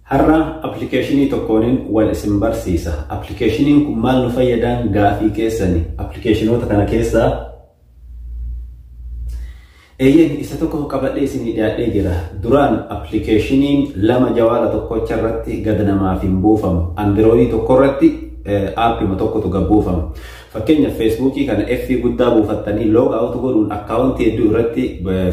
Har'a appilikeeshinii tokkoonin wal isin barsiisa. Appilikeeshiniin kun maal nu fayyadaan gaafii keessani. Appilikeeshinoota kana keessaa eeyyeen isa tokko qabadhee isinii dhiyaadhee jira. Duraan appilikeeshiniin lama jawaala tokkocha irratti gad namaaf hin buufamu. Andirooyii tokko irratti aappima tokkotu gad buufama. Fakkeenyaaf Feesbuukii kana F guddaa buufattanii log out godhuun akkaawuntii hedduu irratti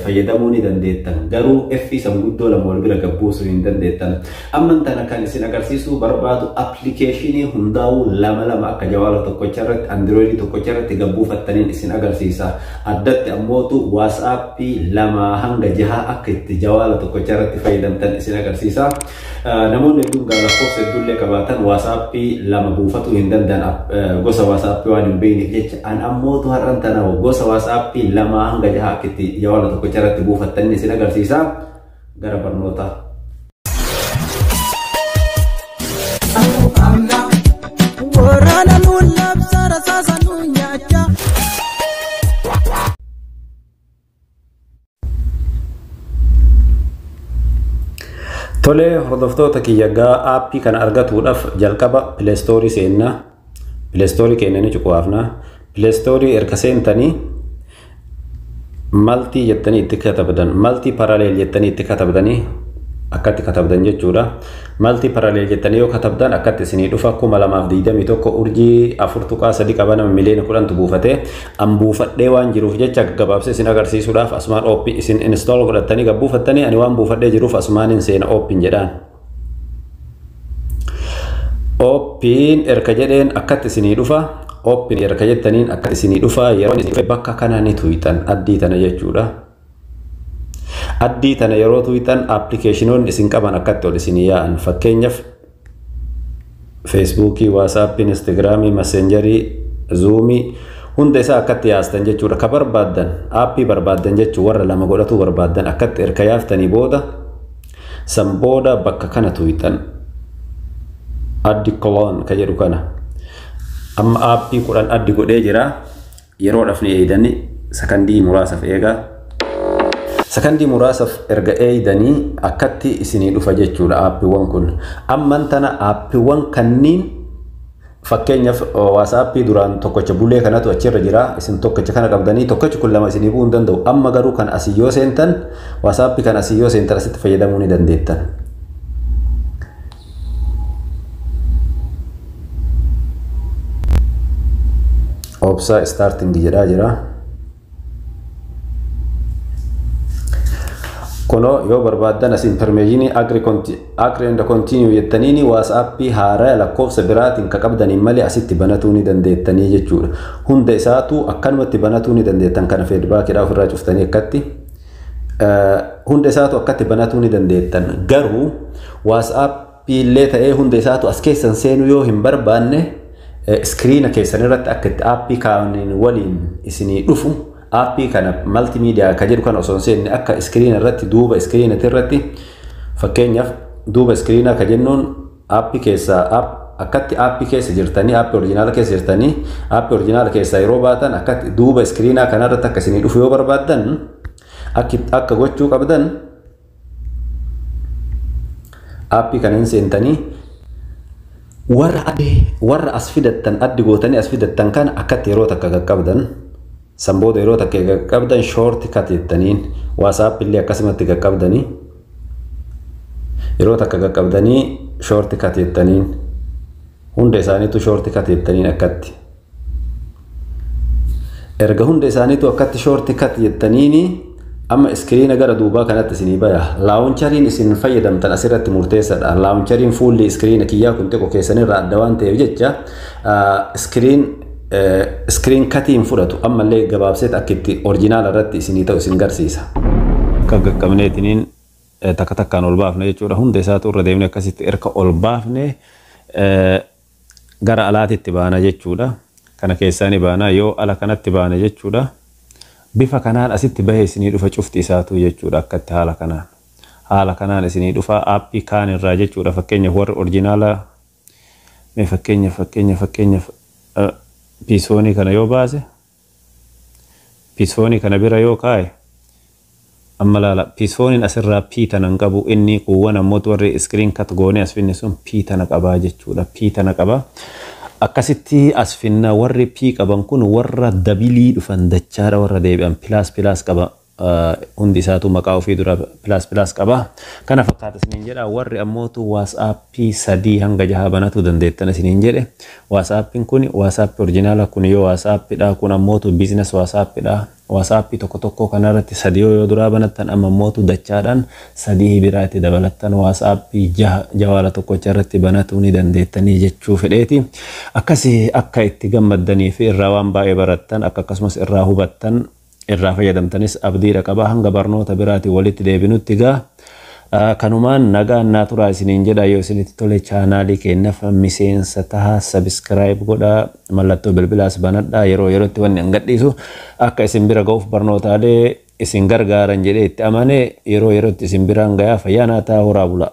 fayyadamuu ni dandeettan. Garuu F san guddoo lama wal bira gad buusuu hin dandeettan. Amman tana kan isin agarsiisuu barbaadu appilikeeshinii hundaa'uu lama lama akka jawaala tokkocha irratti andirooyidii tokkocha irratti gad buufattaniin isin agarsiisa. Addatti ammootu WhatsApp lama hanga jahaa akka itti jawaala tokkocha irratti fayyadamtan isin agarsiisa. Namoonni hedduun egaa lakkoofsa hedduullee qabaatan waasaappii lama buufatuu hin danda'an gosa waasaappii waan hin beekneef jecha an ammootu har'an tana gosa waasaappii lama hanga jaha akkitti jawaala tokkicha irratti buufattan isin agarsiisa gara barnootaa. Waraana nuun labsa rasaasa nuun nyaachaa. Tolee hordoftoota kiyya gaa aappii kana argatuudhaaf jalqaba pileestoorii seenna. Pileestoorii keenya ni cuqaafna. Pileestoorii erga seentanii maltii jettanii itti katabdan maltii paraleel jettanii itti katabdanii akkatti katabdan jechuudha. Maltii paraleel jettanii yoo katabdan akkatti isinii dhufa kuma lamaaf digdamii tokko urjii afur tuqaa sadi qaba nama miliyoona kudhantu buufate an buufadhee waan jiruuf jecha gaggabaabsee isin agarsiisuudhaaf asumaan ooppi isin install godhattanii gad buufattanii ani waan buufadhee jiruuf asumaan hin seena ooppiin jedhaan ooppiin erga jedheen akkatti isinii dhufa ooppiin erga jettaniin akkatti isinii dhufa yeroo isin bakka kanaa ni tuyxan addii tana jechuudha. Addii tana yeroo tuqxan appilikeeshinoonni isin qaban akkatti ol isin yaa'an fakkeenyaaf feesbuukii, waasaappii, instaagiraamii, maseenjarii, zuumii hunda isaa akkatti yaastan jechuudha. Ka barbaaddan aappii barbaaddan jechuun warra lama godhatuu barbaaddan akkatti erga yaaftanii booda san booda bakka kana tuqxan addi cologne ka jedhu kana amma aappii kudhan addi godhee jira Yeroodhaf ni eeydani sakandii muraasaf eegaa. Sakandii muraasaf erga eeydani akkatti isinii dhufa jechuudha aappiwwan kun. Amman tana aappiwwan kanniin fakkeenyaf waasaappii duraan tokkocha bulee kanatu achirra jira isin tokkocha kana qabdanii tokkochi kun lama isinii bu'uu hin danda'u amma garuu kan asii yoo seentan waasaappii kan asii yoo seentan asitti fayyadamuu ni dandeettan. obsaa starting jedhaa jira kunoo yoo barbaaddan as impermeeshinii agri and continue jettaniini waasaappii haaraa lakkoofsa biraatiin ka qabdaniin malee asitti banatuu ni dandeettanii jechuudha hunda isaatuu akkanumatti banatuu ni dandeettan kana feedbaakidhaa ofirraa cuftanii akkatti hunda isaatu akkatti banatuu ni dandeettan garuu waasaapii illee ta'ee hunda isaatu as keessan seenuu yoo hin barbaanne iskiriina keessan irratti akka itti aappii kaaniin waliin isinii dhufu aappii kana maltiimiidiyaa kan jedhu kana osoo hin seenne akka iskiriina irratti duuba iskiriinati irratti fakkeenyaaf duuba iskiriinaa kan jennuun App keessa app akkatti app keessa jirtanii app orijinaala keessa jirtanii app orijinaala keessaa yeroo baatan akkatti duuba iskiriinaa kanarratti akka isinii dhufu yoo barbaaddan akki- akka gochuu qabdan app kana hin seentanii warra adde warra as fidattan addi gootanii as fidattan kana akkatti yeroo takka qaqqabdan San booda yeroo takka egaa qaqqabdan short cut jettaniin WhatsApp illee akkasumatti qaqqabdanii yeroo takka qaqqabdanii short cut jettaniin hunda isaaniitu short cut jettaniin akkatti. Erga hunda isaaniitu akkatti short cut jettaniini. Amma iskiriina gara duubaa kanatti isinii baya. Laawunchariin isin fayyadamtan asirratti murteessadha. Laawunchariin fuulli iskiriina kiyyaa kun xiqqoo keessanirraa adda waan ta'eef jecha iskiriin iskiriin katii hin fudhatu. Ammallee gabaabseet akka itti orjinaala irratti isinii ta'u isin garsiisa. Akka qaqqabneetiniin takka takkaan ol baafna jechuudha. Hunda isaatu irra deemnee akkasitti erga ol baafne gara alaatitti baana jechuudha. Kana keessaa ni baana. Yoo ala kanatti baane jechuudha. Bifa kanaan asitti bahee isinii dhufa cufti isaatuu jechuudha akkatti haala kanaan. Haala kanaan isinii dhufa aappii kaan irraa jechuudha fakkeenyaaf warri orjinaala mee fakkeenyaaf fakkeenyaaf fakkeenyaaf piisoonii kana yoo baase. Pisfoonii kana bira yoo kaaye amma laala pisfooniin asirraa P tana hin qabu inni kuuwwan ammoot warri screen cut goonee as finne sun P tana qabaa jechuudha P tana qaba akkasitti as finna warri P qaban kun warra dabilii dhufan dachaadha warra deebi'an pilaas pilaas qaba hundi isaatu maqaa ofii dura pilaas pilaas qaba. Kana fakkaata isiniin jedha. Warri ammootu waatsaappii sadii hanga jahaa banatuu dandeettan isiniin jedhe. Waatsaappiin kun waatsaappii orjinaala kun yoo waatsaappiidha kun ammootu biizines waatsaappiidha. Waatsaappii tokko tokkoo kanarratti sadii yoo duraa banattan amma ammootu dachaadhaan sadii biraa itti dabalattan waatsaappii jaha jawaala tokkocha irratti banatuu ni dandeettanii jechuu fedheeti. Akkasi akka itti gammaddanii fi irraa waan baay'ee barattan akka akkasumas irraa hubattan irraa fayyadamtanis abdiidha qaba hanga barnoota biraati walitti deebinutti gaa kanumaan nagaan naa turaa isiniin jedha yoo isinitti tole chaanaalii keenyaf miseensa taha sabiskiraayib godha mallattoo bilbilaas banadha yeroo yerootti wanni an gadhiisu akka isin bira ga'uuf barnootaalee isin gargaaran jedhee itti amane yeroo yerootti isin biraan gayaa fayyaa naa ta'a horaa bulaa.